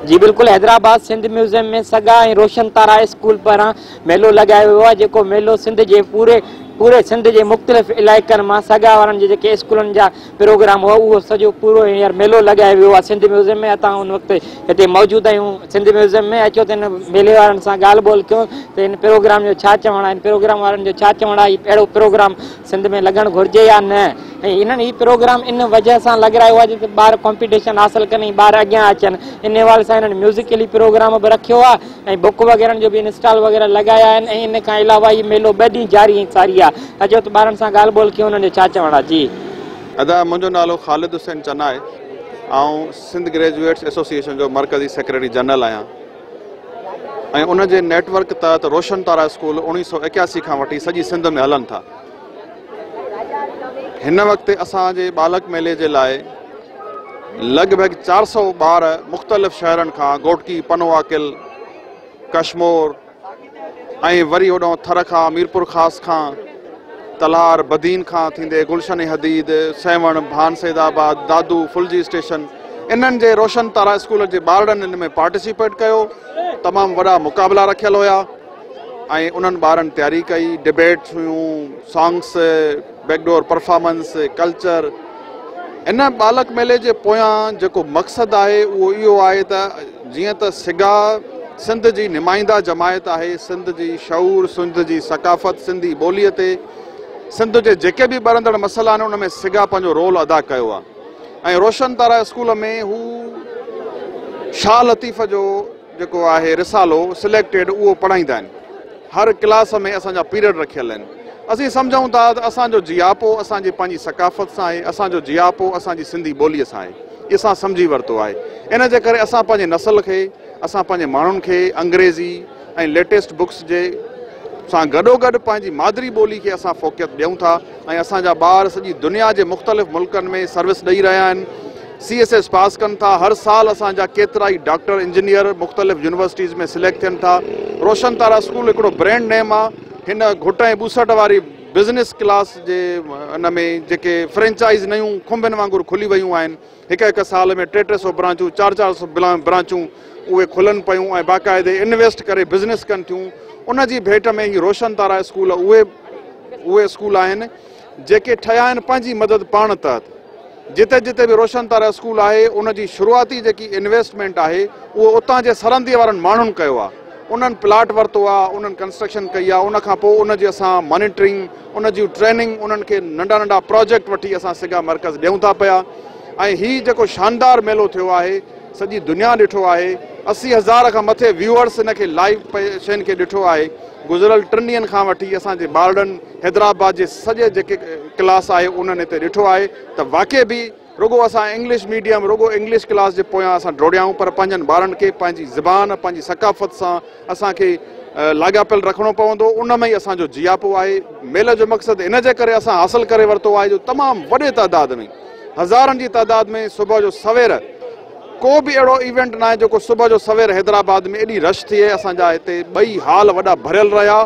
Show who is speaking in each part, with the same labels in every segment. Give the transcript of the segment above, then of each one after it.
Speaker 1: جي بلڪل Hyderabad Sindh museum ۾ SAGA ۽ Roshan Tara school پاران ميلو لڳايو ويو آهي جيڪو ميلو سنڌ جي پوري پوري سنڌ جي مختلف علائقن مان سگا وارن جي جيڪي اسڪولن جا پروگرام هو اهو سڄو پورو هينئر ميلو لڳايو ويو آهي سنڌ ميوزم ۾ اتان هن وقت هتي موجود آهيون سنڌ ميوزم ۾ اچو ته هن ميلي وارن سان ڳالهه ٻولهه ڪيو ته هن پروگرام جو ڇا چوڻ آهي هن پروگرام وارن جو ڇا چوڻ آهي اهڙو پروگرام سنڌ ۾ لڳڻ گهرجي يا نه ۽ انهن هي پروگرام ان وجه سان لڳرايو آهي جتي ٻار ڪمپيٽيشن حاصل ڪن ۽ ٻار اڳيان اچن ان حوالي سان هنن ميوزڪلي پروگرام به رکيو آهي ۽ بڪ وغيرن جو به ان اسٽال وغيره لڳايا آهن ۽ ان کان علاوه هي ميلو ٻه ڏينهن جاري ۽ ساري آ اچو ته ٻارن سان ڳالهه ٻولهه ڪيون انهن جو ڇا چوڻ آ جي. ادا منهنجو
Speaker 2: نالو خالد حسين چنائي آئون سنڌ گريجوئيٽس ايسوسيئيشن جو مرڪزي سيڪريٽري جنرل آهيان ۽ ان جي نيٽ ورڪ تحت روشن تارا اسڪول اوڻيهه سؤ ايڪياسي کان وٺي سڄي سنڌ ۾ هلن ٿا. هن وقت اسان جي ٻالڪ ميلي جي لاء لڳ ڀڳ چار سؤ ٻار مختلف شهرن کان گهوٽڪي، پنوواڪل، ڪشمور ۽ وري هوڏانهن ٿر کان، ميرپور خاص کان، تلهار، بدين کان ٿيندي گلشن حديد، سيوهڻ، ڀان سيد آباد، دادو، ڦلجي اسٽيشن انهن جي روشن تارا اسڪول جي ٻارڙن ان ۾ پارٽيسيپيٽ ڪيو. تمام وڏا مقابلا رکيل هيا. ۽ انهن ٻارن تياري ڪئي، ڊبيٽس هيون، songs, back door performance, culture. هن ٻالڪ ميلي جي پويان جيڪو مقصد آهي اهو اهو آهي ته جيئن ته سگا سنڌ جي نمائنده جماعت آهي، سنڌ جي شعور، سنڌ جي ثقافت، سنڌي ٻولي تي سنڌ جي جيڪي به ٻرندڙ مسئلا آهن ان ۾ سگا پنهنجو رول ادا ڪيو آهي ۽ روشن تارا اسڪول ۾ هو شاهه لطيف جو جيڪو آهي رسالو سليڪٽيڊ اهو پڙهائيندا آهن هر ڪلاس ۾ اسان جا پيرڊ رکيل آهن اسين سمجهون ٿا ته اسان جو جياپو اسان جي پنهنجي ثقافت سان آهي اسان جو جياپو اسان جي سنڌي ٻولي سان آهي اسان سمجهي ورتو آهي ان جي ڪري اسان پنهنجي نسل کي اسان پنهنجي ماڻهن کي انگريزي ۽ ليٽيسٽ بڪس جي سان گڏو گڏ پنهنجي مادري ٻولي کي اسان فوقيت ڏيون ٿا ۽ اسان جا ٻار سڄي دنيا جي مختلف ملڪن ۾ سروس ڏئي رهيا آهن سي ايس ايس پاس ڪن ٿا هر سال اسان جا ڪيترائي ڊاڪٽر انجنيئر مختلف يونيورسٽيز ۾ سليڪٽ ٿين ٿا روشن تارا اسڪول هڪڙو برينڊ نيم آ هن گهٽ ۽ ٻوسٽ واري بزنس ڪلاس جي ان ۾ جيڪي فرينچائز نيون کنڀين وانگر کلي ويون آهن هڪ هڪ سال ۾ ٽي ٽي سو برانچون چار چار سو برانچون اهي کلن پيون ۽ باقاعدي انويسٽ ڪري بزنس ڪن ٿيون ان جي ڀيٽ ۾ هي روشن تارا اسڪول اهي اهي اسڪول آهن جيڪي ٺهيا آهن پنهنجي مدد پاڻ تحت جتي جتي به روشن تارا اسڪول آهي ان جي شروعاتي جيڪي انويسٽمينٽ آهي اهو اتان جي سرهندي وارن ماڻهن ڪيو آهي انهن پلاٽ ورتو آهي انهن ڪنسٽرڪشن ڪئي آهي ان کان پوء ان جي اسان مانيٽرنگ ان جون ٽريننگ انهن کي ننڍا ننڍا پراجيڪٽ وٺي اسان سگا مرڪز ڏيون ٿا پيا ۽ هي جيڪو شاندار ميلو ٿيو آهي سڄي دنيا ڏٺو آهي اسي هزار کان مٿي ويوئرس ان کي لائيو شين کي ڏٺو آهي گذريل ٽن ڏينهن کان وٺي اسان جي ٻارڙن حيدرآباد جي سڄي جيڪي ڪلاس آهي انهن هتي ڏٺو آهي ته واقعي به رڳو اسان انگلش ميڊيم رڳو انگلش ڪلاس جي پويان اسان ڊوڙيائون پر پنهنجن ٻارن کي پنهنجي زبان پنهنجي ثقافت سان اسان کي لاڳاپيل رکڻو پوندو ان ۾ ئي اسان جو جياپو آهي ميل جو مقصد ان جي ڪري اسان حاصل ڪري ورتو آهي جو تمام وڏي تعداد ۾ هزارن جي تعداد ۾ صبح جو سوير ڪو به اهڙو ايونٽ ناهي جيڪو صبح جو سوير حيدرآباد ۾ ايڏي رش ٿئي اسان جا هتي ٻئي هال وڏا ڀريل رهيا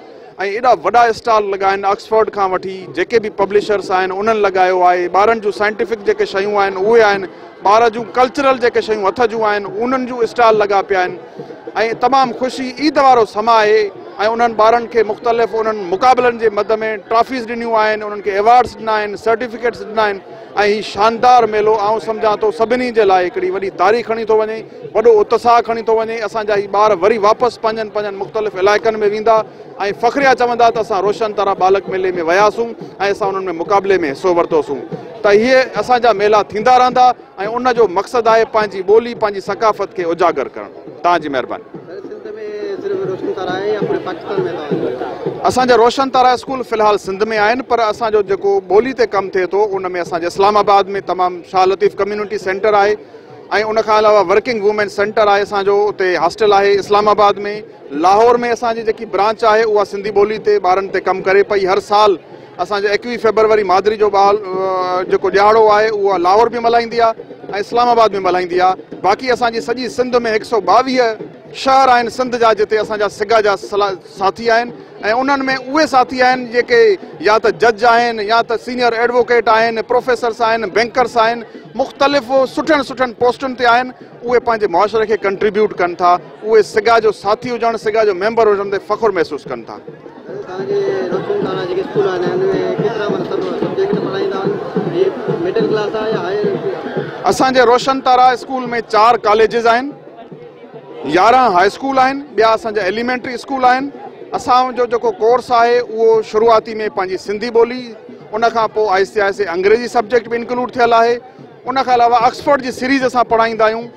Speaker 2: ۽ ايڏا وڏا اسٽال لڳائن آڪسفورڊ کان وٺي جيڪي به پبلشرس آهن انهن لڳايو آهي ٻارن جون سائنٽيفڪ جيڪي شيون آهن اهي آهن ٻار جون ڪلچرل جيڪي شيون هٿ جون آهن انهن جون اسٽال لڳا پيا آهن ۽ تمام خوشي عيد وارو سما آهي ۽ انهن ٻارن کي مختلف انهن مقابلن جي مد ۾ ٽرافيز ڏنيون آهن انهن کي ايوارڊز ڏنا آهن سرٽيفڪيٽس ڏنا آهن ۽ هي شاندار ميلو آئون سمجهان ٿو سڀني جي لاء هڪڙي وڏي تاري کڻي ٿو وڃي وڏو اتساهه کڻي ٿو وڃي اسان جا هي ٻار وري واپس پنهنجن پنهنجن مختلف علائقن ۾ ويندا ۽ فخريا چوندا ته اسان روشن طرح ٻالڪ ميلي ۾ وياسون ۽ اسان انهن ۾ مقابلي ۾ حصو ورتوسون ته هي اسان جا ميلا ٿيندا رهندا. ۽ ان جو مقصد آهي پنهنجي ٻولي پنهنجي ثقافت کي اجاگر ڪرڻ توهان جي مهرباني. اسان جا روشن تارا اسڪول في الحال سنڌ ۾ آهن پر اسان جو جيڪو ٻولي تي ڪم ٿئي ٿو ان ۾ اسان جي اسلام آباد ۾ تمام شاهه لطيف ڪميونٽي سينٽر آهي ۽ ان کان علاوه ورڪنگ وومين سينٽر آهي اسان جو اتي هاسٽل آهي اسلام آباد ۾ لاهور ۾ اسان جي جيڪي برانچ آهي اها سنڌي ٻولي تي ٻارن تي ڪم ڪري پئي هر سال اسان جي ايڪويهه فيبروري مادري جو ٻال جيڪو ڏيهاڙو آهي اهو لاهور به ملهائيندي آهي ۽ اسلام آباد به ملهائيندي آهي باقي اسان جي سڄي سنڌ ۾ هڪ سئو ٻاويهه شهر آهن سنڌ جا جتي اسان جا سگا جا ساٿي آهن ۽ انهن ۾ اهي ساٿي آهن جيڪي يا ته جج آهن يا ته سينئر ايڊووڪيٽ آهن پروفيسرس آهن بينڪرس آهن مختلف سٺن سٺن پوسٽن تي آهن اهي پنهنجي معاشري کي ڪنٽريبيوٽ ڪن ٿا اهي سگا جو ساٿي هجڻ، سگا جو ميمبر هجڻ تي فخر محسوس ڪن ٿا. توهان جي روشن تارا جيڪي اسڪول آهن ان ۾ ڪيترا معنيٰ سڀ سبجيڪٽ پڙهائيندا آهن هي مڊل ڪلاس آهي يا هائر انسٽيٽيوٽ آهي؟ اسان جي روشن تارا اسڪول ۾ چار ڪاليجز آهن، يارهن هاء اسڪول آهن، ٻيا اسان جا ايليمينٽري اسڪول آهن، اسان جو جيڪو ڪورس آهي اهو شروعاتي ۾ پنهنجي سنڌي ٻولي ان کان پوء آهستي آهستي انگريزي سبجيڪٽ به انڪلوڊ ٿيل آهي ان کان علاوه آڪسفورڊ جي سيريز اسان پڙهائيندا آهيون.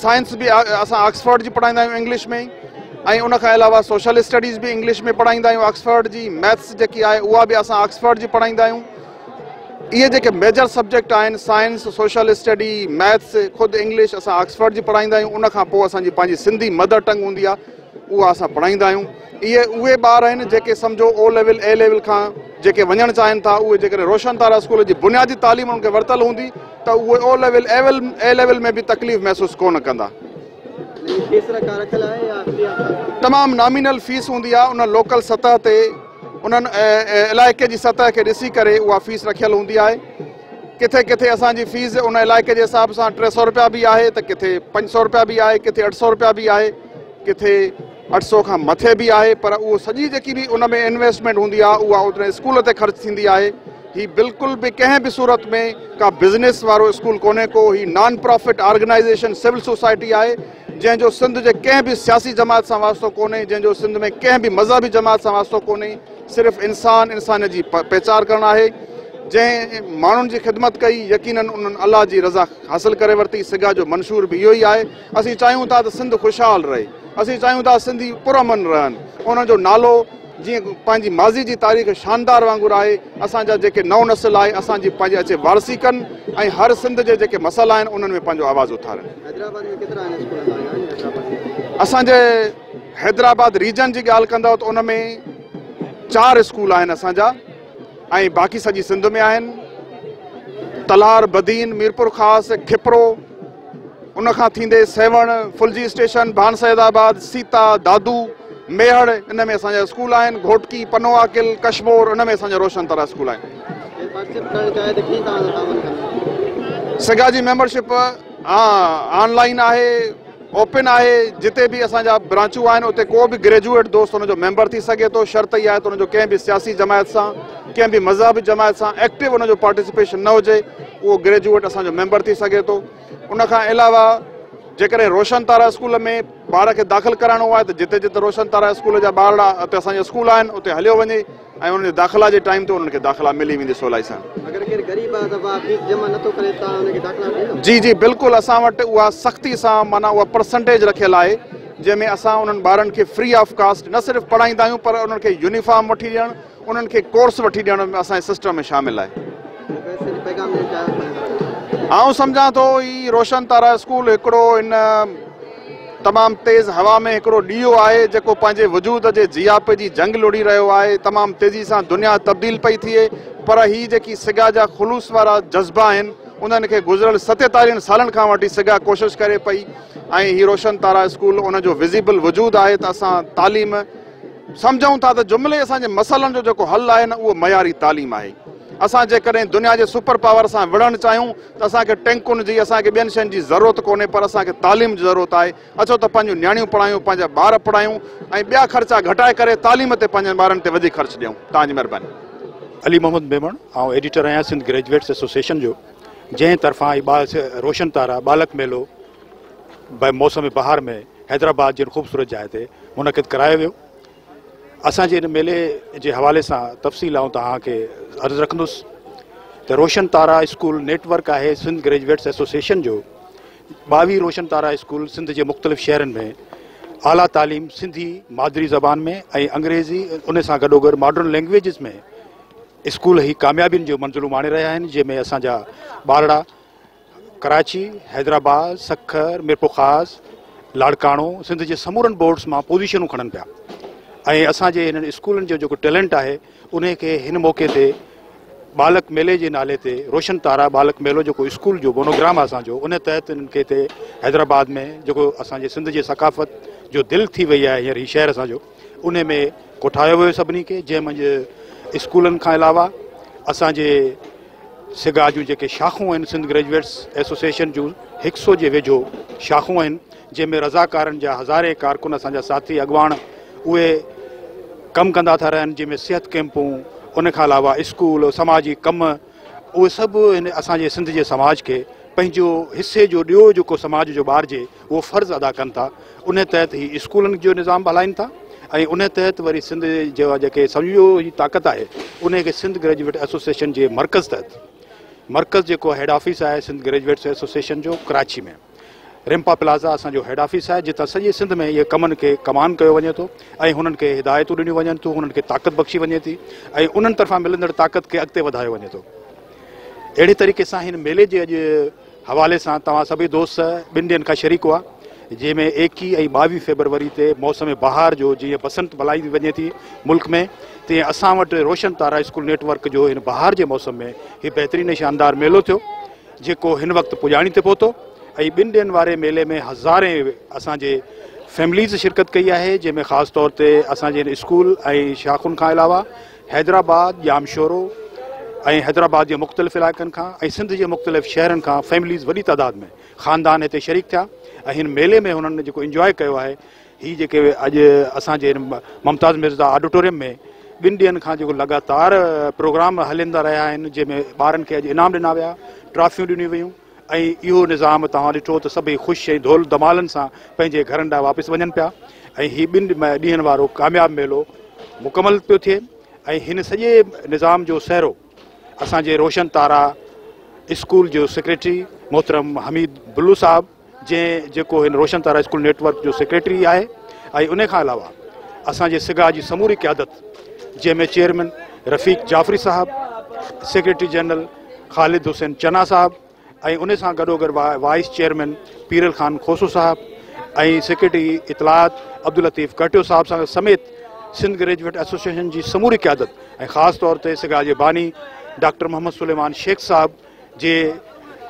Speaker 2: سائنس به اسان آڪسفورڊ جي پڙهائيندا آهيون انگلش ۾ ۽ ان کان علاوه سوشل اسٽڊيز به انگلش ۾ پڙهائيندا آهيون آڪسفورڊ جي ميٿس جيڪي آهي اها به اسان آڪسفورڊ جي پڙهائيندا آهيون اهي جيڪي ميجر سبجيڪٽ آهن سائنس سوشل اسٽڈي ميٿس خود انگلش اسان آڪسفورڊ جي پڙهائيندا آهيون ان کان پوء اسانجي پنهنجي سنڌي مدر ٽنگ هوندي آهي اها اسان پڙهائيندا آهيون. اهي اهي ٻار آهن جيڪي سمجهو او ليول اي ليول کان جيڪي وڃڻ چاهين ٿا اهي جيڪڏهن روشن تارا اسڪول جي بنيادي تعليم انهن کي ورتل هوندي ته اهي او ليول ايول اي ليول ۾ به تڪليف محسوس ڪونه ڪندا. تمام نامينل فيس هوندي آهي ان لوڪل سطح تي انهن علائقي جي سطح کي ڏسي ڪري اها فيس رکيل هوندي آهي ڪٿي ڪٿي اسان جي فيس ان علائقي جي حساب سان ٽي سؤ روپيا به آهي ته ڪٿي پنج سؤ روپيا به آهي ڪٿي اٺ سؤ روپيا به آهي. ڪٿي اٺ سؤ کان مٿي به آهي پر اهو سڄي جيڪي به ان ۾ انويسٽمينٽ هوندي آهي اها اوتري اسڪول تي خرچ ٿيندي آهي هي بلڪل به ڪنهن به صورت ۾ ڪا بزنس وارو اسڪول ڪونهي ڪو هي non profit organisation civil society آهي جنهن جو سنڌ جي ڪنهن به سياسي جماعت سان واسطو ڪونهي جنهن جو سنڌ ۾ ڪنهن به مذهبي جماعت سان واسطو ڪونهي صرف انسان انسانيت جي پيچار ڪرڻ آهي جنهن ماڻهن جي خدمت ڪئي يقينن انهن الله جي رضا حاصل ڪري ورتي سگا جو منشور به اهو ئي آهي اسين چاهيون ٿا ته سنڌ خوشحال رهي، اسين چاهيون ٿا سنڌي پرامن رهن، انهن جو نالو جيئن پنهنجي ماضي جي تاريخ شاندار وانگر آهي، اسان جا جيڪي نئون نسل آهي اسان جي پنهنجي اچي وارثي ڪن ۽ هر سنڌ جي جيڪي مسئلا آهن انهن ۾ پنهنجو آواز اٿارن. اسان جي حيدرآباد ريجن جي ڳالهه ڪندؤ ته ان ۾ چار اسڪول آهن اسان جا ۽ باقي سڄي سنڌ ۾ آهن تلهار، بدين، ميرپور خاص، کپرو، ان کان ٿيندي سيوهڻ، ڦلجي اسٽيشن، ڀان سيد آباد، سيتا، دادو، ميهڙ ان ۾ اسان جا اسڪول آهن، گهوٽڪي، پنو عاقل، ڪشمور ان ۾ اسان جا روشن تارا اسڪول آهن. سگا جي ميمبر شپ آن لائن آهي، اوپن آهي، جتي به اسان جا برانچون آهن اتي ڪو به گريجوئيٽ دوست ان جو ميمبر ٿي سگهي ٿو، شرط اها آهي ته ان جو ڪنهن به سياسي جماعت سان، ڪنهن به مذهبي جماعت سان ايڪٽو ان جو پارٽيسپيشن نه هجي. اهو گريجوئيٽ اسان جو ميمبر ٿي سگهي ٿو ان کان علاوه جيڪڏهن روشن تارا اسڪول ۾ ٻار کي داخل ڪرائڻو آهي ته جتي جتي روشن تارا اسڪول جا ٻارڙا اتي اسان جا اسڪول آهن اتي هليو وڃي ۽ انهن جي داخلا جي ٽائيم تي انهن کي داخلا ملي ويندي سولائي سان جي جي بلڪل اسان وٽ اها سختي سان مانا اها پرسنٽيج رکيل آهي جنهن ۾ اسان انهن ٻارن کي فري آف ڪاسٽ نه صرف پڙهائيندا آهيون پر انهن کي يونيفارم وٺي ڏيڻ انهن کي ڪورس وٺي ڏيڻ ۾ اسان جي سسٽم ۾ شامل آهي آئون سمجهان ٿو هي روشن تارا اسڪول هڪڙو ان تمام تيز هوا ۾ هڪڙو ڏيو آهي جيڪو پنهنجي وجود جي جياپي جي جنگ لڙي رهيو آهي تمام تيزي سان دنيا تبديل پئي ٿئي پر هي جيڪي سگا جا خلوص وارا جذبا آهن انهن کي گذريل ستيتاليهن سالن کان وٺي سگا ڪوشش ڪري پئي ۽ هي روشن تارا اسڪول ان جو وزيبل وجود آهي ته اسان تعليم سمجهون ٿا ته جملي اسان جي مسئلن جو جيڪو حل آهي نه اهو معياري تعليم آهي. اسان جيڪڏهن دنيا جي سپر پاور سان وڙهڻ چاهيون ته اسان کي ٽينڪن جي، اسان کي ٻين شين جي ضرورت ڪونهي پر اسان کي تعليم جي ضرورت آهي. اچو ته پنهنجون نياڻيون پڙهايون، پنهنجا ٻار پڙهايون ۽ ٻيا خرچا گهٽائي ڪري تعليم تي پنهنجن ٻارن تي وڌيڪ خرچ ڏيون. توهان جي مهرباني. علي محمد
Speaker 3: ميمڻ، آئون ايڊيٽر آهيان سنڌ گريجوئيٽس ايسوسيئيشن جو، جنهن طرفان هي روشن تارا ٻالڪ ميلو، به موسم بهار ۾ حيدرآباد جي هن خوبصورت جاء تي منعقد ڪرايو ويو. اسان جي هن ميلي جي حوالي سان تفصيل آئون توهان کي عرض رکندس ته Roshan Tara school network آهي سنڌ گريجويٽس ايسوسيئيشن جو ٻاويهه روشن تارا اسڪول سنڌ جي مختلف شهرن ۾ اعليٰ تعليم سنڌي مادري زبان ۾ ۽ انگريزي ان سان گڏوگڏ ماڊرن لينگويجز ۾ اسڪول هي ڪاميابين جو منزلون ماڻي رهيا آهن جنهن ۾ اسان جا ٻارڙا ڪراچي، حيدرآباد، سکر، ميرپورخاص، لاڙڪاڻو سنڌ جي سمورن بورڊز مان پوزيشنون کڻن پيا ۽ اسان جي هنن اسڪولن جو جيڪو ٽيلنٽ آهي انهي کي هن موقعي تي ٻالڪ ميلي جي نالي تي روشن تارا ٻالڪ ميلو جيڪو اسڪول جو مونوگرام آهي اسان جو ان تحت انهن کي هتي حيدرآباد ۾ جيڪو اسان جي سنڌ جي ثقافت جو دل ٿي وئي آهي هينئر هي شهر اسان جو انهي ۾ ڪوٺايو ويو سڀني کي جنهن منجهه اسڪولن کان علاوه اسان جي سگا جون جيڪي شاخون آهن سنڌ گريجويٽس ايسوسيئيشن جون هڪ سو جي ويجهو شاخون آهن جنهن ۾ رضاڪارن جا هزارين ڪارڪن اسان جا ساٿي اڳواڻ اهي ڪم ڪندا ٿا رهن جنهن ۾ صحت ڪيمپون ان کان علاوه اسڪول سماجي ڪم اهي سڀ اسان جي سنڌ جي سماج کي پنهنجو حصي جو ڏيو جيڪو سماج جو ٻارجي اهو فرض ادا ڪن ٿا ان تحت هي اسڪولن جو نظام به هلائين ٿا ۽ ان تحت وري سنڌ جي جيڪي سمجهو هي طاقت آهي ان کي سنڌ گريجويٽ ايسوسيشن جي مرڪز تحت مرڪز جيڪو هيڊ آفيس آهي سنڌ گريجويٽس ايسوسيشن جو ڪراچي ۾ رمپا پلازا اسان جو هيڊ آفيس آهي جتان سڄي سنڌ ۾ اهي ڪمن کي ڪمان ڪيو وڃي ٿو ۽ هنن کي هدايتون ڏنيون وڃن ٿيون هنن کي طاقت بخشي وڃي ٿي ۽ انهن طرفان ملندڙ طاقت کي اڳتي وڌايو وڃي ٿو اهڙي طريقي سان هن ميلي جي اڄ حوالي سان توهان سڀئي دوست ٻن ڏينهن کان شريڪ هئا جنهن ۾ ايڪيهه ۽ ٻاويهه فيبروري تي موسم بهار جو جيئن بسنت ملهائي وڃي ٿي ملڪ ۾ تيئن اسان وٽ Roshan Tara school network جو هن بهار جي موسم ۾ هي بهترين ۽ شاندار ميلو ٿيو جيڪو هن وقت پڄاڻي تي پهتو ۽ ٻن ڏينهن واري ميلي ۾ هزارين اسان جي فيمليز شرڪت ڪئي آهي جنهن ۾ خاص طور تي اسان جي هن اسڪول ۽ شاخن کان علاوه حيدرآباد، ڄامشورو ۽ حيدرآباد جي مختلف علائقن کان ۽ سنڌ جي مختلف شهرن کان فيمليز وڏي تعداد ۾ خاندان هتي شريڪ ٿيا ۽ هن ميلي ۾ هنن جيڪو انجواء ڪيو آهي هي جيڪي اڄ اسان جي هن ممتاز مرزا آڊيٽوريم ۾ ٻن ڏينهن کان جيڪو لڳاتار پروگرام هلندا رهيا آهن جنهن ۾ ٻارن کي اڄ انعام ڏنا ويا ٽرافيون ڏنيون ويون ۽ اهو نظام توهان ڏٺو ته سڀئي خوش ۽ ڌول ڌمالن سان پنهنجي گهرن ڏانهن واپس وڃن پيا ۽ هي ٻن ڏينهن وارو ڪامياب ميلو مڪمل پيو ٿئي ۽ هن سڄي نظام جو سهرو اسان جي روشن تارا اسڪول جو سيڪريٽري محترم حميد بلو صاحب جنهن جيڪو هن Roshan Tara school network جو سيڪريٽري آهي ۽ ان کان علاوه اسان جي سگا جي سموري قيادت جنهن ۾ چيئرمين رفيق جعفري صاحب سيڪريٽري جنرل خالد حسين چنا صاحب ۽ ان سان گڏوگڏ وائيس چيئرمين پيرل خان کوسو صاحب ۽ سيڪريٽري اطلاعات عبداللطيف ڪهٽيو صاحب سان سميت سنڌ گريجويٽ ايسوسيئيشن جي سموري قيادت ۽ خاص طور تي سگا جي باني ڊاڪٽر محمد سليمان شيخ صاحب جي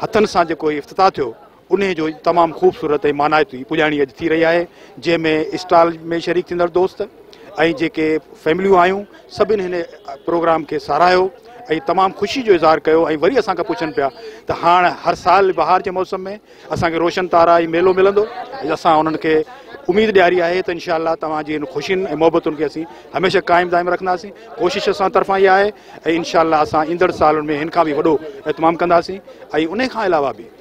Speaker 3: هٿن سان جيڪو هي افتتاح ٿيو انهيء جو تمام خوبصورت ۽ مانائتي پڄاڻي اڄ ٿي رهي آهي، جنهن ۾ اسٽال ۾ شريڪ ٿيندڙ دوست ۽ جيڪي فيمليون آيون، سڀني هن پروگرام کي ساراهيو ۽ تمام خوشي جو اظهار ڪيو ۽ وري اسان کان پڇن پيا ته هاڻ هر سال بهار جي موسم ۾ اسان کي روشن تارا ۽ ميلو ملندو؟ اسان انهن کي اميد ڏياري آهي ته انشاء الله توهان جي هن خوشين ۽ محبتن کي اسين هميشه قائم دائم رکنداسين، ڪوشش اسان طرفان اها آهي ۽ انشاء الله اسان ايندڙ سالن ۾ هن کان به وڏو اهتمام ڪنداسين ۽ انهي کان علاوه به.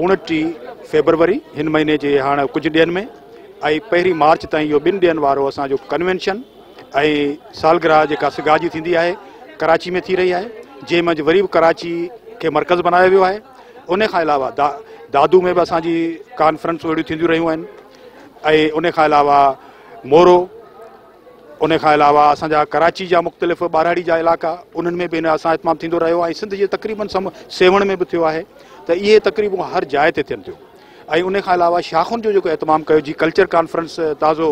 Speaker 3: اوڻٽيهه فيبروري هن مهيني جي هاڻ ڪجهه ڏينهن ۾ ۽ پهرين مارچ تائين اهو ٻن ڏينهن وارو اسان جو ڪنوينشن ۽ سالگرهه جيڪا سگا جي ٿيندي آهي ڪراچي ۾ ٿي رهي آهي جنهن منجهه وري به ڪراچي کي مرڪز بنايو ويو آهي ان کان علاوه دا دادو ۾ به اسان جي ڪانفرنسون اهڙيون ٿينديون رهيون آهن ۽ ان کان علاوه مورو ان کان علاوه اسان جا ڪراچي جا مختلف ٻاراڙي جا علائقا انهن ۾ به هن اسان اهتمام ٿيندو رهيو ۽ سنڌ جي تقريبن سم سيوهڻ ۾ به ٿيو آهي ته اهي تقريبون هر جاء تي ٿين ٿيون ۽ ان کان علاوه شاخن جو جيڪو اهتمام ڪيو جي ڪلچر ڪانفرنس تازو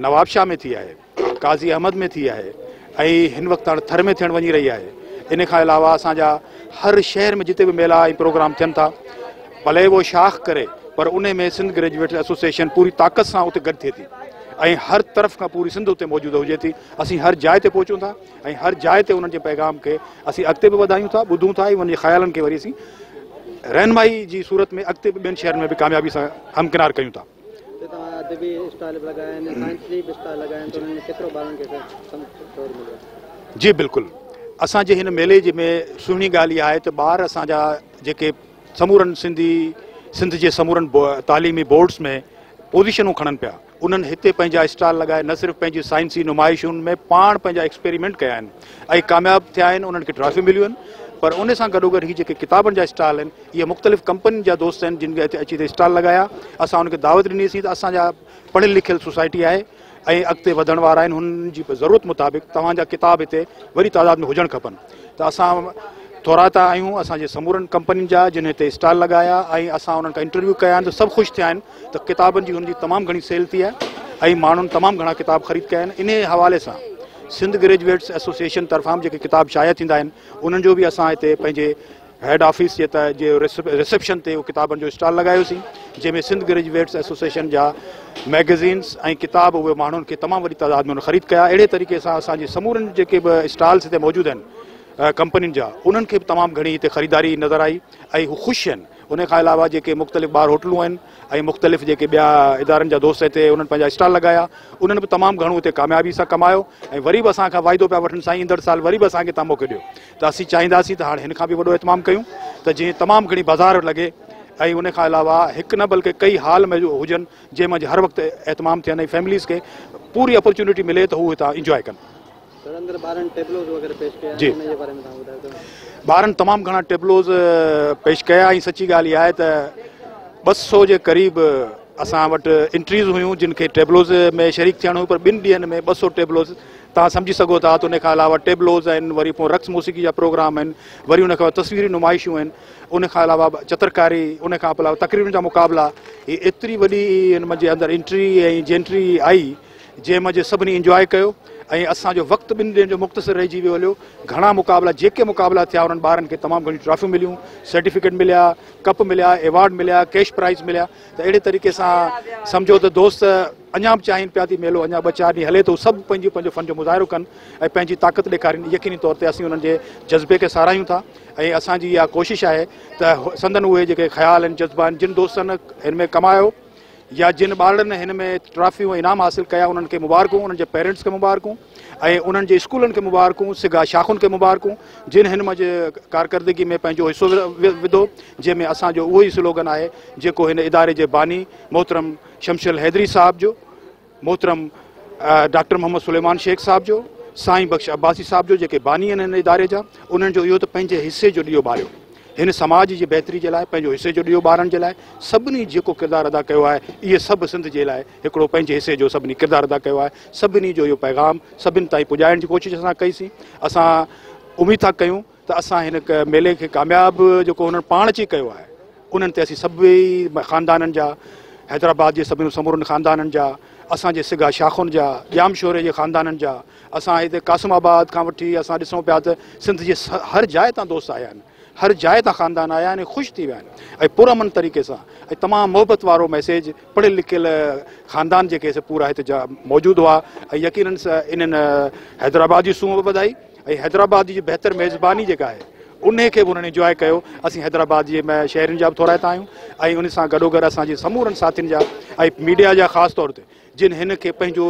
Speaker 3: نوابشاهه ۾ ٿي آهي قاضي احمد ۾ ٿي آهي ۽ هن وقت هاڻ ٿر ۾ ٿيڻ وڃي رهي آهي ان کان علاوه اسان جا هر شهر ۾ جتي به ميلا ۽ پروگرام ٿين ٿا ڀلي اهو شاخ ڪري پر انهي ۾ سنڌ گريجوئيٽس ايسوسيئيشن پوري طاقت سان اتي گڏ ٿئي ٿي ۽ هر طرف کان پوري سنڌ اتي موجود هجي ٿي اسين هر جاء تي پهچون ٿا ۽ هر جاء تي انهن جي پيغام کي اسين اڳتي به وڌايون ٿا ٻڌون ٿا ۽ انهن جي خيالن کي وري اسين رهنمائي جي صورت ۾ اڳتي به ٻين شهرن ۾ به ڪاميابي سان همڪنار ڪيون ٿا جي بلڪل اسان جي هن ميلي جي ۾ سهڻي ڳالهه اها آهي ته ٻار اسان جا جيڪي سمورن سنڌي سنڌ جي سمورن تعليمي بورڊس ۾ پوزيشنون کڻن پيا انهن هتي پنهنجا اسٽال لڳائي نه صرف پنهنجي سائنسي نمائشن ۾ پاڻ پنهنجا ايڪسپيريمينٽ ڪيا آهن ۽ ڪامياب ٿيا آهن انهن کي ٽرافيون مليون آهن پر ان سان گڏو گڏ هي جيڪي ڪتابن جا اسٽال آهن اهي مختلف ڪمپنين جا دوست آهن جن کي هتي اچي هتي اسٽال لڳايا اسان انهن کي دعوت ڏني سين ته اسان جا پڙهيل لکيل سوسائٽي آهي ۽ اڳتي وڌڻ وارا آهن هن جي ضرورت مطابق توهان جا ڪتاب هتي وڏي تعداد ۾ هجڻ کپن ته اسان ٿورائتا آهيون اسان جي سمورن ڪمپنين جا جن هتي اسٽال لڳايا ۽ اسان انهن کان انٽرويو ڪيا آهن ته سڀ خوش ٿيا آهن ته ڪتابن جي هن جي تمام گهڻي سيل ٿي آهي ۽ ماڻهن تمام گهڻا ڪتاب خريد ڪيا آهن انهي حوالي سان سنڌ گريجويٽس ايسوسيئيشن طرفان به جيڪي ڪتاب شايع ٿيندا آهن انهن جو به اسان هتي پنهنجي هيڊ آفيس جي تهه جي رسيپشن تي ڪتابن جو اسٽال لڳايوسين جنهن ۾ سنڌ گريجويٽس ايسوسيئيشن جا ميگزينس ۽ ڪتاب اهي ماڻهن کي تمام وڏي تعداد ۾ خريد ڪيا اهڙي طريقي سان اسان جي سمورن جيڪي به اسٽالس هتي موجود آهن ڪمپنين جا انهن کي به تمام گهڻي هتي خريداري نظر آئي ۽ هو خوش آهن ان کان علاوه جيڪي مختلف ٻاهر هوٽلون آهن ۽ مختلف جيڪي ٻيا ادارن جا دوست هتي انهن پنهنجا اسٽال لڳايا انهن به تمام گهڻو هتي ڪاميابي سان ڪمايو ۽ وري به اسان کان واعدو پيا وٺن سائين ايندڙ سال وري به اسان کي تان موقعو ڏيو ته اسين چاهينداسين ته هاڻ هن کان به وڏو اهتمام ڪيون ته جيئن تمام گهڻي بازار لڳي ۽ ان کان علاوه هڪ نه بلڪه ڪئي هال م هجن جنهن مان هر وقت اهتمام ٿين ۽ فيمليز کي پوري اپرچونٽي ملي ته هو هتان انجواء ڪن. سر اندر ٻارن ٽيبلوز وغيره پيش ڪيا آهن ان جي باري ۾ توهان ٻڌايو ته. ٻارن تمام گهڻا ٽيبلوز پيش ڪيا ۽ سچي ڳالهه اها آهي ته ٻه سو جي قريب اسان وٽ انٽريز هيون جن کي ٽيبلوز ۾ شريڪ ٿيڻ هيو پر ٻن ڏينهن ۾ ٻه سو ٽيبلوز توهان سمجهي سگهو ٿا ته ان کان علاوه ٽيبلوز آهن، وري پون رقص موسيقي جا پروگرام آهن، وري ان کان تصويري نمائشون آهن، ان کان علاوه چترڪاري، ان کان علاوه تقريرن جا مقابلا، هي ايتري وڏي هن منجهه اندر انٽري ۽ جينٽري آئي، جنهن منجهه سڀني انجواء ڪيو ۽ اسان جو وقت ٻن ڏينهن جو مختصر رهجي ويو هليو، گهڻا مقابلا جيڪي مقابلا ٿيا انهن ٻارن کي تمام گهڻيون ٽرافيون مليون، سرٽيفڪيٽ مليا، ڪپ مليا، ايوارڊ مليا، ڪيش پرائز مليا ته اهڙي طريقي سان سمجهو ته دوست. اڃا به چاهين پيا ته ميلو اڃا ٻه چار ڏينهن هلي ته هو سڀ پنهنجي پنهنجو فن جو مظاهرو ڪن ۽ پنهنجي طاقت ڏيکارين يقيني طور تي اسين انهن جي جذبي کي ساراهيون ٿا ۽ اسان جي اها ڪوشش آهي ته سندن اهي جيڪي خيال آهن جذبا آهن جن دوستن هن ۾ ڪمايو يا جن ٻارڙن هن ۾ ٽرافيون ۽ انعام حاصل ڪيا انهن کي مبارڪون انهن جي پيرنٽس کي مبارڪون ۽ انهن جي اسڪولن کي مبارڪون سگا شاخن کي مبارڪون جن هن مجھي ڪارڪردگي ۾ پنهنجو حصو وڌو جنهن ۾ اسان جو اهو ئي سلوگن آهي جيڪو هن اداري جي باني محترم شمشل حيدري صاحب جو، محترم ڊاڪٽر محمد سليمان شيخ صاحب جو، سائين بخش عباسي صاحب جو جيڪي باني آهن هن اداري جا انهن جو اهو ته پنهنجي حصي جو ڏيئو ٻاريو هن سماج جي بهتري جي لاء پنهنجو حصي جو ڏيئو ٻارڻ جي لاء سڀني جيڪو ڪردار ادا ڪيو آهي اهي سڀ سنڌ جي لاء هڪڙو پنهنجي حصي جو سڀني ڪردار ادا ڪيو آهي سڀني جو اهو پيغام سڀني تائين پڄائڻ جي ڪوشش اسان ڪئي سين اسان اميد ٿا ڪيون ته اسان هن ميلي کي ڪامياب جيڪو هنن پاڻ اچي ڪيو آهي انهن تي اسين سڀئي خاندانن جا حيدرآباد جي سڀني سمورن خاندانن جا اسان جي سگا شاخن جا ڄام شوري جي خاندانن جا اسان هتي قاسم آباد کان وٺي اسان ڏسون پيا ته سنڌ جي هر جاء تان دوست آيا آهن هر جاء تان خاندان آيا آهن خوش ٿي ويا آهن پرامن طريقي سان تمام محبت وارو ميسيج پڙهيل لکيل خاندان جيڪي پورا هتي موجود هئا يقينن انهن حيدرآباد جي سونهن به ٻڌائي ۽ حيدرآباد جي بهتر ميزباني جيڪا آهي انهي کي به انهن انجواء ڪيو اسين حيدرآباد جي شهرين جا به ٿورائتا آهيون ۽ ان سان گڏوگڏ اسان جي سمورن ساٿين جا ۽ ميڊيا جا خاص طور تي جن هن کي پنهنجو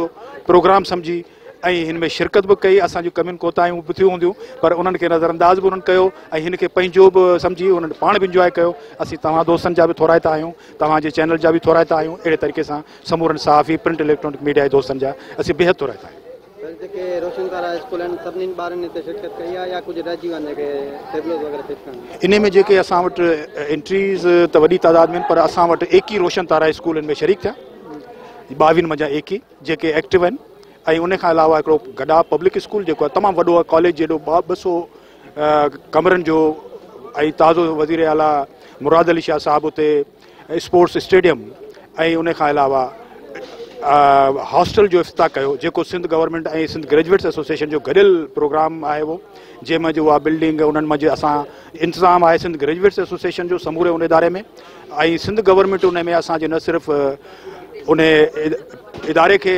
Speaker 3: پروگرام سمجهي ۽ هن ۾ شرڪت به ڪئي اسان جون ڪمين ڪوتاهيون به ٿيون هونديون پر انهن کي نظر انداز به انهن ڪيو ۽ هن کي پنهنجو به سمجهي انهن پاڻ به انجواء ڪيو اسين توهان دوستن جا به ٿورائتا آهيون توهان جي چينل جا به ٿورائتا آهيون اهڙي طريقي سان سمورن صحافي پرنٽ اليڪٽرانڪ ميڊيا جي دوستن جا اسين بيحد ٿورائتا آهيون سر جيڪي روشن ڪارا اسڪول آهن سڀني ٻارن اتي شرڪت ڪئي آهي يا ڪجهه رهجي ويا آهن جيڪي ٽيبلوز وغيره فٽ ڪرڻ ان ۾ جيڪي اسان وٽ انٽريز ته وڏي تعداد ۾ پر اسان وٽ ايڪي روشن تارا اسڪول ان ۾ شريڪ ٿيا ٻاويهن منجهان ايڪي جيڪي ايڪٽو آهن ۽ ان کان علاوه هڪڙو گڏا پبلڪ اسڪول جيڪو آهي تمام وڏو آهي ڪاليج جيڏو ٻه سو ڪمرن جو ۽ تازو وزير اعليٰ مراد علي شاهه صاحب اتي اسپورٽس اسٽيڊيم ۽ ان کان علاوه هاسٽل جو افتتاح ڪيو جيڪو Sindh government ۽ Sindh graduates association جو گڏيل پروگرام آهي اهو جنهن ۾ جو اها بلڊنگ انهن ۾ جو اسان انتظام آهي سنڌ گريجويٽس ايسوسيشن جو سموري ان اداري ۾ ۽ سنڌ گورنمينٽ ان ۾ اسانجي نه صرف ان اداري کي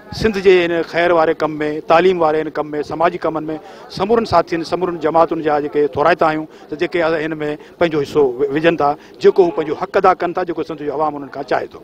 Speaker 3: سنڌ جي ان خير واري ڪم ۾ تعليم واري ان ڪم ۾ سماجي ڪمن ۾ سمورن ساٿين سمورن جماعتن جا جيڪي ٿورائتا آهيون ته جيڪي ان ۾ پنهنجو حصو وجهن ٿا جيڪو هو پنهنجو حق ادا ڪن ٿا جيڪو سنڌ جو عوام انهن کان چاهي ٿو.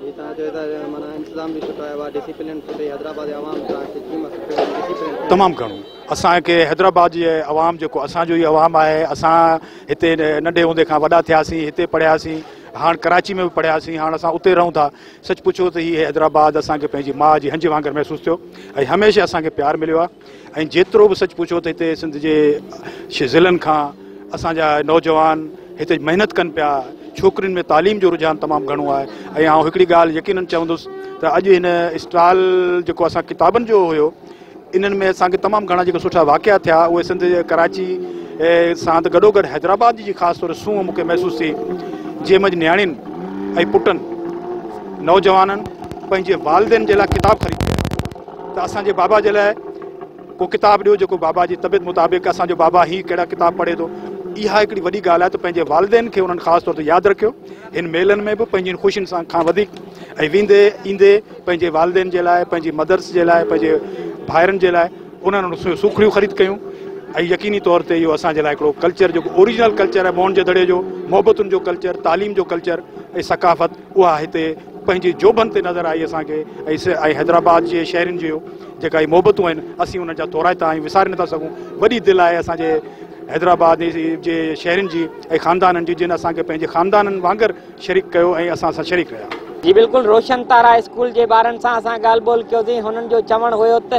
Speaker 3: جي
Speaker 4: توهان چئو ٿا جو معنيٰ انتظام
Speaker 3: به سٺو آهي اها ڊسيپلين سٺي حيدرآباد جي عوام سان سچي ۾ سٺو ۽ ڊسيپلين ٿيو. تمام گهڻو اسان کي حيدرآباد جي عوام جيڪو اسان جو ئي عوام آهي اسان هتي ننڍي هوندي کان وڏا ٿياسين هتي پڙهياسين هاڻ ڪراچي ۾ به پڙهياسين هاڻ اسان اتي رهون ٿا. سچ پڇو ته هي حيدرآباد اسان کي پنهنجي ماء جي هنج وانگر محسوس ٿيو ۽ هميشه اسان کي پيار مليو آهي ۽ جيترو به سچ پڇو ته هتي سنڌ جي ضلعن کان اسان جا نوجوان هتي محنت ڪن پيا ڇوڪرين ۾ تعليم جو رجحان تمام گهڻو آهي ۽ آئون هڪڙي ڳالهه يقينن چوندس ته اڄ هن اسٽال جيڪو اسان ڪتابن جو هيو انهن ۾ اسان کي تمام گهڻا جيڪي سٺا واقعا ٿيا اهي سنڌ جي ڪراچي ساند گڏو گڏ حيدرآباد جي خاص طور سونهن مون کي محسوس ٿي جنهن منجهه نياڻين ۽ پٽن نوجوانن پنهنجي والدين جي لاء ڪتاب خريد ڪيا ته اسان جي بابا جي لاء ڪو ڪتاب ڏيو جيڪو بابا جي طبيعت مطابق اسان جو بابا هي ڪهڙا ڪتاب پڙهي ٿو اها هڪڙي وڏي ڳالهه آهي ته پنهنجي والدين کي انهن خاص طور تي ياد رکيو هن ميلن ۾ به پنهنجين خوشين سان کان وڌيڪ ۽ ويندي ايندي پنهنجي والدين جي لاء، پنهنجي مدرس جي لاء، پنهنجي ڀائرن جي لاء انهن وٽ سوکڙيون خريد ڪيون ۽ يقيني طور تي اهو اسان جي لاء هڪڙو ڪلچر جيڪو اوريجنل ڪلچر آهي موهن جي دڙي جو، محبتن جو ڪلچر، تعليم جو ڪلچر ۽ ثقافت اها هتي پنهنجي جوڀن تي نظر آئي اسان کي ۽ حيدرآباد جي شهرين جي جيڪا هي محبتون آهن اسين انهن جا ٿورائتا آهيون وساري نٿا سگهون وڏي دل آهي اسان جي حيدرآباد جي شهرين جي ۽ خاندانن جي جن اسان کي پنهنجي خاندانن وانگر شريڪ ڪيو ۽ اسان سان شريڪ رهيا. جي بلڪل روشن
Speaker 1: تارا اسڪول جي ٻارن سان اسان ڳالهه ٻولهه ڪيوسين هنن جو چوڻ هيو ته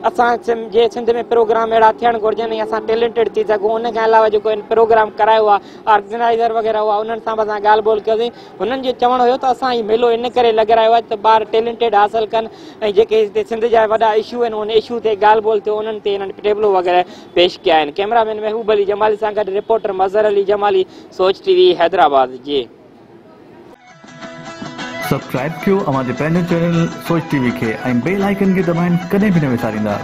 Speaker 1: اسان جي سنڌ ۾ پروگرام اهڙا ٿيڻ گهرجن ۽ اسان ٽيلنٽيڊ ٿي سگهون ان کان علاوه جيڪو هن پروگرام ڪرايو هئا آرگنائيزر وغيره هئا انهن سان به اسان ڳالهه ٻولهه ڪيوسين هنن جو چوڻ هيو ته اسان هي ميلو ان ڪري لڳرايو آهي ته ٻار ٽيلنٽيڊ حاصل ڪن ۽ جيڪي هتي سنڌ جا وڏا اشو آهن ان اشو تي ڳالهه ٻولهه ٿيو انهن تي هنن ٽيبلو وغيره پيش ڪيا آهن ڪئميرا مين محبوب علي جمالي سان گڏ reporter Mazhar Ali Jamali
Speaker 5: Soch T V Hyderabad جي. سبسڪرائب ڪيو اوهان جي پنهنجي چينل سوچ ٽي وي کي ۽ بيل آئيڪن کي دٻائڻ ڪڏهن به نه وساريندا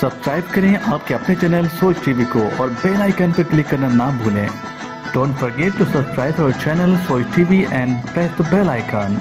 Speaker 5: سبسڪرائب ڪرين آپ ڪي اپني چينل سوچ ٽي وي ڪو اور بيل آئيڪن پي ڪلڪ ڪرنا نا ڀولين ڊونٽ فرگيٽ ٽو سبسڪرائب اور channel Soch T V and press the bell icon.